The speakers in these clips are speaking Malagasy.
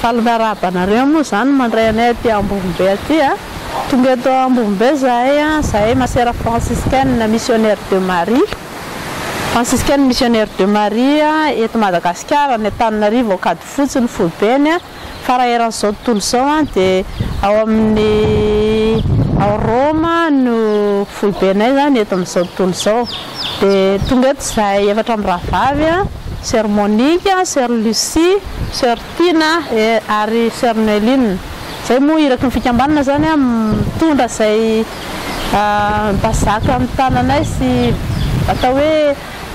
Fa ny fiarahabanareo moa izany mandray anay aty Ambovombe aty a! Tonga eto Ambovombe zahay a! Zahay masera franciscaine missionnaire de Marie, franciscaine missionnaire de Marie a! Eto Madagasikara, any Antananarivo, Ankadifotsy ny foibeny a! Fa raha eran'izao tontolo izao a! Dia ao amin'ny, ao Roma no foibenay izany eto amin'izao tontolo izao. Dia tonga eto izahay efatra mirahavavy, Soeur Monique, Soeur Lucie, Soeur Tina ary Soeur Noeline. Izay moa iraky ny fikambanana izany mitondra izay mba zaka amin'ny tananay sy atao hoe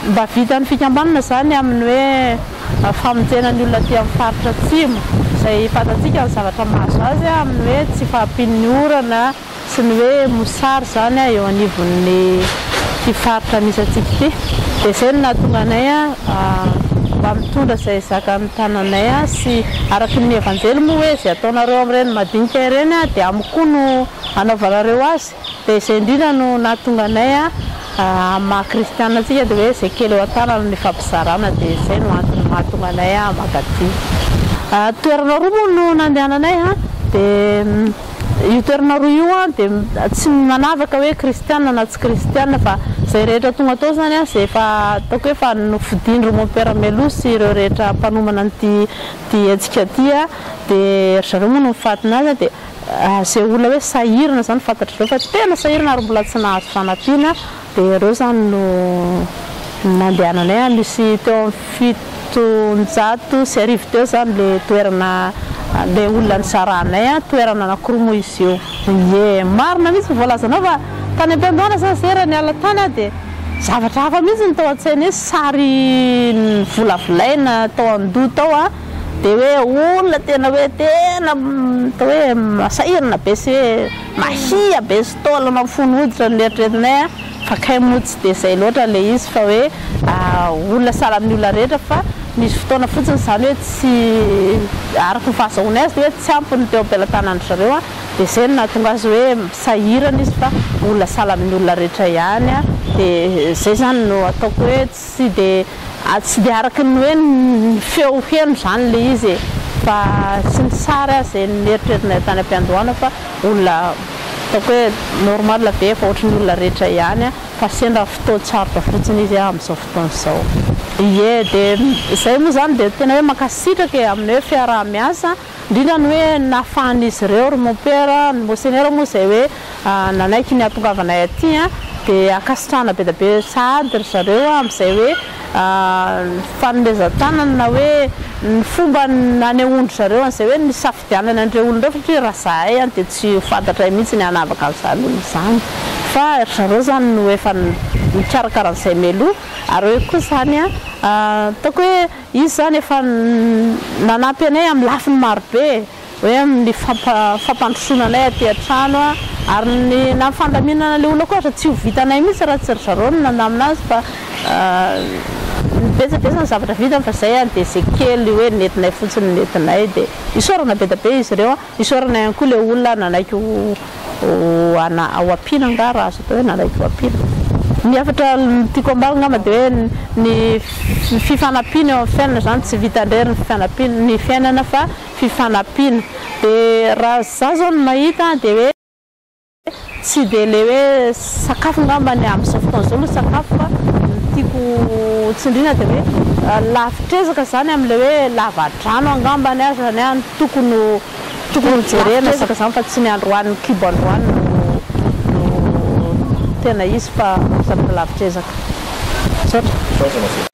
mba vitan'ny fikambanana izany amin'ny hoe famonjena ny olona aty amin'ny faritra Atsimo izay fantatsika ny zavatra mahazo azy amin'ny hoe tsy fahampian'ny orana, Tsy ny hoe mosary izany aho eo anivon'ity faritra misy antsika ity, dia izay no nahatonga anay mba mitondra izay zakan'ny tananay sy araka ny Evanjely moa hoe izay ataonareo amin'ireny madinika ireny dia amiko koa no hanaovanareo azy, dia izay indrindra no nahatonga anay amin'ny maha kristiana antsika dia hoe izay kely eo an-tanana no ifampizarana, dia izay no antony mahatonga anay maka aty. Toerana roa moa no nandehananay dia. Io toerana roa io an dia tsy manavaka hoe kristiana na tsy kristiana fa izay rehetra tonga tao izany an izay efa ataoko hoe efa nofidin-dry mon père Melo sy ireo rehetra mpanomana an'ity ity hetsika ity an dia ry zareo moa no mifatina azy an dia izay olona hoe sahirana izany fantatr'izao fa tena sahirana ary mbola tsy nahazo fanampiana Dia ireo izany no nandehananay any, misy teo amin'ny fitonjato sy arivo teo izany ilay toerana, ilay olona nizaranay an, toerana anankiroa moa izy io. Ie, marina mihitsy ny voalazanao fa tany am-piandohana zany zay raha niala tany aho dia zavatra hafa mihitsy no tao an-tsaina hoe sary novolavolaina tao an-doha tao an, dia hoe olona tena hoe tena atao hoe masahirana be sy hoe. Mahia be sy taolana mifono hoditra ny eritreretinay a! Fa kay moa tsy dia izay loatra ilay izy fa hoe olona sahala amin'ny olona rehetra fa misy fotoana fotsiny izany hoe tsy, araka ny fahazahoany azy, hoe tsy ampy ny teo am-pelatanan'dry zareo a! Dia izay no nahatonga azy hoe sahirana izy fa olona sahala amin'ny olona rehetra ihany a! Dia izay izany no ataoko hoe. Tsy dia tsy dia araka ny hoe ny feo heno izany ilay izy e! Fa tsy ny sary aza izay noeritrerina tany am-piandohana fa olona ataoko hoe normal be efa ohatry ny olona rehetra ihany fa sendra fotoan-tsarotra fotsiny izy amin'izao fotoana izao. Ie, dia izay moa izany dia tena hoe mankasitraka e amin'ny hoe fiaraha-miasa. indrindra ny hoe nahafahan'izy ireo, ry mompera, ny Monseigneur moa izay hoe nanaiky ny hahatongavanay aty dia ankasitrahana be dia be sahady ry zareo amin'izay hoe fanomezan-tanana na hoe ny fomba nanehoan-dry zareo an'izay hoe nisafidianany an'ireo olona ireo satria raha izahay dia tsy ho fantatray mihitsy ny hanavaka an'izany olona izany fa ry zareo izany no efa nikarakara an'izay mialoha ary hoe koa izany ataoko hoe Izy izany efa nanampy anay amin'ny lafiny maro be, hoe amin'ny fampandrosoana anay aty an-trano, ary ny na ny fandaminana ilay olona koa aza tsy ho vitanay mihitsy raha tsy ry zareo no nandamina azy fa ny betsabetsa ny zavatra vitany fa izay dia izay kely hoe nentinay fotsiny no nentinay dia isaorana be dia be izy ireo. Isaorana ihany koa ilay olona nanaiky ho ampiana angaha raha azo atao hoe nanaiky ho ampiana. Ny hafatra tiako ambara angamba dia hoe ny fifanampiana eo amin'ny fiainana izany tsy vita indrery ny fifanampiana ny fiainana fa fifanampiana dia raha izaho izao no mahita dia hoe Tsy dia ilay hoe sakafo angamba ny amin'izao fotoana izao no sakafo fa ny tiako tsindriana dia hoe lavitr'ezaka izany amin'ilay hoe lavadrano angambany aza ny ahy tokony ho tokony ho jerena lavitr'ezaka izany fa tsy ny androany kibo androany no no tena izy fa zavatra lavitr'ezaka. Misaotra.